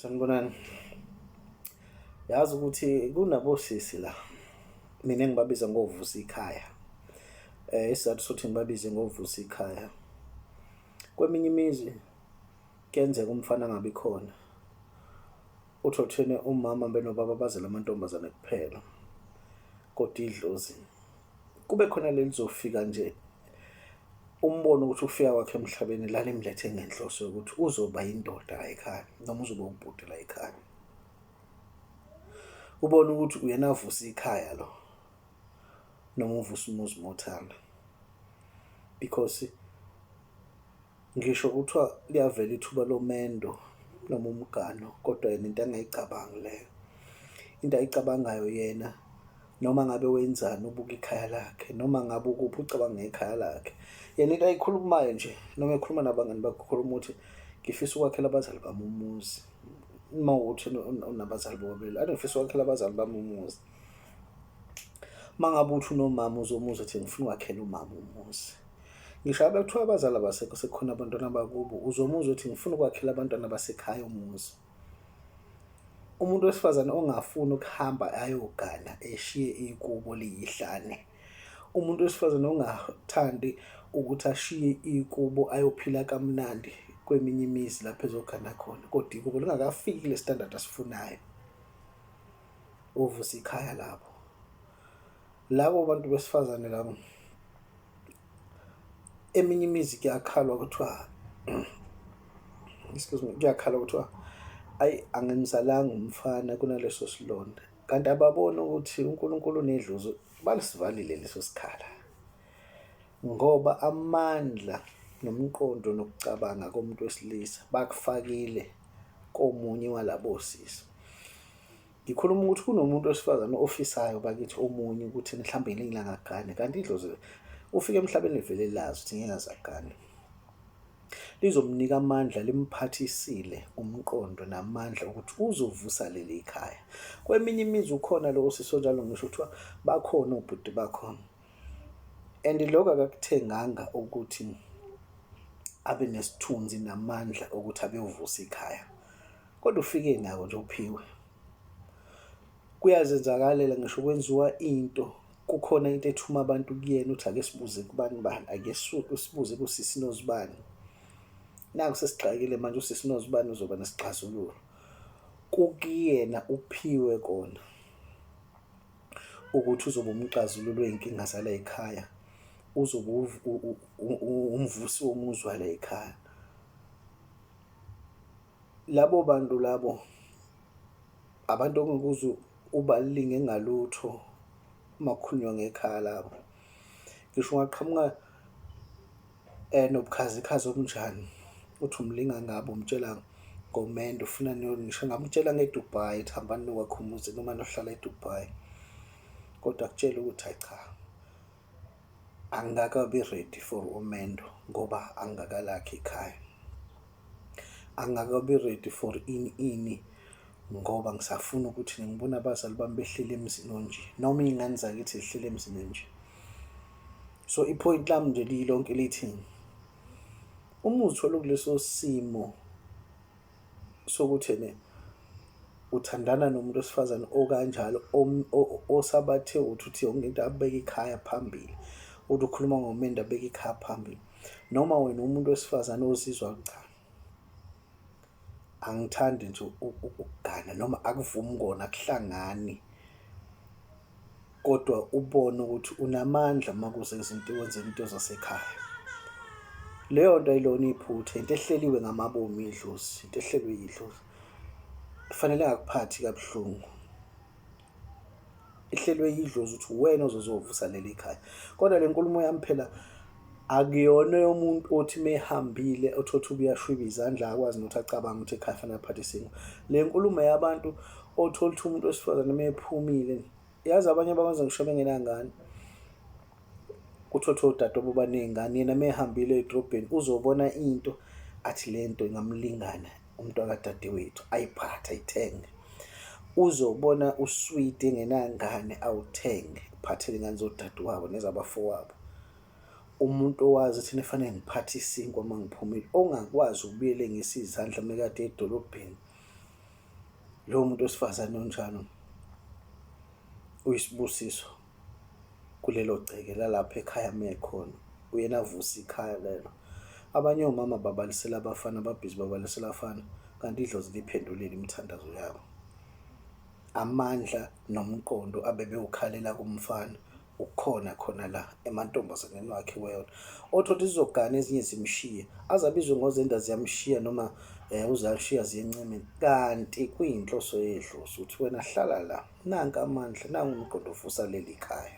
sanibonani yazi ukuthi kunabosisi la mina ngibabiza ngovusa ikhaya eh isizathu sokuthi ngibabize ngovusa ikhaya kweminye imizi kuyenzeka umfana angabi khona uthothene umama benobaba bazela amantombazane kuphela kodwa idlozi kube khona lelizofika nje umbono ukuthi ukufika kwakhe emhlabeni lalimlethe ngenhloso yokuthi uzoba yindoda la ekhaya noma uzoba ubhuti la ekhaya ubona ukuthi uyena avusa ikhaya lo noma uvusa umuzi mothanda because Ngisho kuthiwa liyavela ithuba lomendo noma umgano kodwa yena into angayicabangi leyo into ayicabangayo yena noma ngabe wenzani ubuka ikhaya lakhe noma ngabe ukuphi ucabanga ngekhaya lakhe yena into ayikhulumayo nje noma ekhuluma nabangani bakhe ukhuluma ukuthi ngifisa ukwakhela abazali bami umuzi uma ukuthi unabazali bobabili ade ngifisa ukwakhela abazali bami umuzi uma ngabe uthi unomama uzomuzi ethi ngifuna ukwakhela umama umuzi ngisho abe kuthiwa abazali abasekho sekukhona abantwana bakubo uzomuzwa ukuthi ngifuna ukwakhela abantwana basekhaya umuzi umuntu wesifazane ongafuni ukuhamba ayogana eshiye ikubo liyihlane umuntu wesifazane ongathandi ukuthi ashiye ikubo ayophila kamnandi kweminye imizi lapho ezogana khona kodwa ikubo lingakafiki le standard asifunayo uvusa ikhaya lapho labo bantu besifazane labo eminye imizi kuyakhalwa kuthiwa excuse me kuyakhala kuthiwa ayi angimzalanga umfana kunaleso silonda kanti ababoni ukuthi uNkulunkulu nedlozi balisivalile leso sikhala ngoba amandla nomqondo nokucabanga komuntu wesilisa bakufakile komunye walabo sisi Ngikhuluma ukuthi kunomuntu wesifazane ofisayo bakithi omunye ukuthi mhlawumbe ngelinye ilanga agane kanti idlozi ufike emhlabeni livele lazi ukuthi ngeke azagane. Lizomnika amandla limphathisile umqondo namandla ukuthi uzovusa leli ikhaya. Kweminye imizi ukhona lowo sisi onjalo ngisho kuthiwa bakhona obhuti bakhona. And lokho akakuthenganga ukuthi abe nesithunzi namandla okuthi abeyovusa ikhaya. Kodwa ufike nako nje uphiwe. Kuyazenzakalela ngisho kwenziwa into kukhona into ethuma abantu kuyena uthi ake sibuze kubani bani ake sibuze kusisi nozibani naku sesigxakile manje usisi nozibani uzoba nesixazululo kukuyena uphiwe kona ukuthi uzobe umxazululo wey'nkinga zala ekhaya uzobe umvusi womuzwa la ekhaya Labo bantu labo abantu ongikuze ubalinge ngalutho makukhulunywa ngekhaya labo ngisho ungaqhamuka eh nobukhazikhazi obunjani uthi umlinga ngabo umtshela ngomendo ufuna ngisho ngamtshela ngeDubai ethi hambani nokwakha umuzi noma nohlala eDubai kodwa kutshela ukuthi hayi cha angikakabi ready for umendo ngoba angakalakhi ikhaya angakabi ready for ini ini ngoba ngisafuna ukuthi ngibone abazali bami behlele emzini onje noma iy'ngane zakithi zihlele emzini onje so iphoyinti lami nje liyilonke lithi uma uzithola kuleso simo sokuthi ne uthandana nomuntu wesifazane okanjalo osabathe uthi uthi yonke into abeke ikhaya phambili uthi ukhuluma ngomendo abeke ikhaya phambili noma wena umuntu wesifazane ozizwa cha angithandi nje ukugana noma akuvumi kona kuhlangani kodwa ubone ukuthi unamandla uma kuze izinto wenzela into zasekhaya. Leyo nto ayilona iphutha, into ehleliwe ngamabomu idlozi, into ehlelwe yidlozi. Kufanele akuphathi kabuhlungu. Ihlelwe yidlozi ukuthi uwena ozozovusa leli khaya. Kodwa le nkulumo yami phela akuyona yomuntu othi mehambile othothi ubuyashwiba izandla akwazi nokuthi acabanga ukuthi ekhaya fanele aphathe isingo le nkulumo yabantu othola ukuthi umuntu wesifazane mephumile yazi abanye bakwenza ngisho bengenangane kuthothi odadobo baney'ngane yena mehambile edrobheni uzobona into athi le nto ingamlingana umntwakadadewethu ayiphathe ayithenge uzobona uswidi engenangane awuthenge uphathele ingane zodadewabo nezabafowabo umuntu owazi thina fanele ngiphathe isinkwa uma ngiphumile ongakwazi ukubuyele ngesizandla mekade edolobheni lowo muntu wesifazane onjalo uyisibusiso kulelo gceke lalapha ekhaya uma ekhona, uyena avusa ikhaya lelo. Abanye omama babalisela abafana, ababhizi babalisela abafana, kanti idlozi liphendulile imithandazo yabo. Amandla nomqondo abebewukhalela kumfana ukhona khona la emantombazaneni wakhe iwona. Othi uthi zizogana ezinye zimshiye, aze abizwe ngozenda ziyamshiya noma eh uzalishiya ziyenceme kanti kuyinhloso yedlozi ukuthi wena hlala la nanka amandla nangu umgqondo ovusa leli khaya.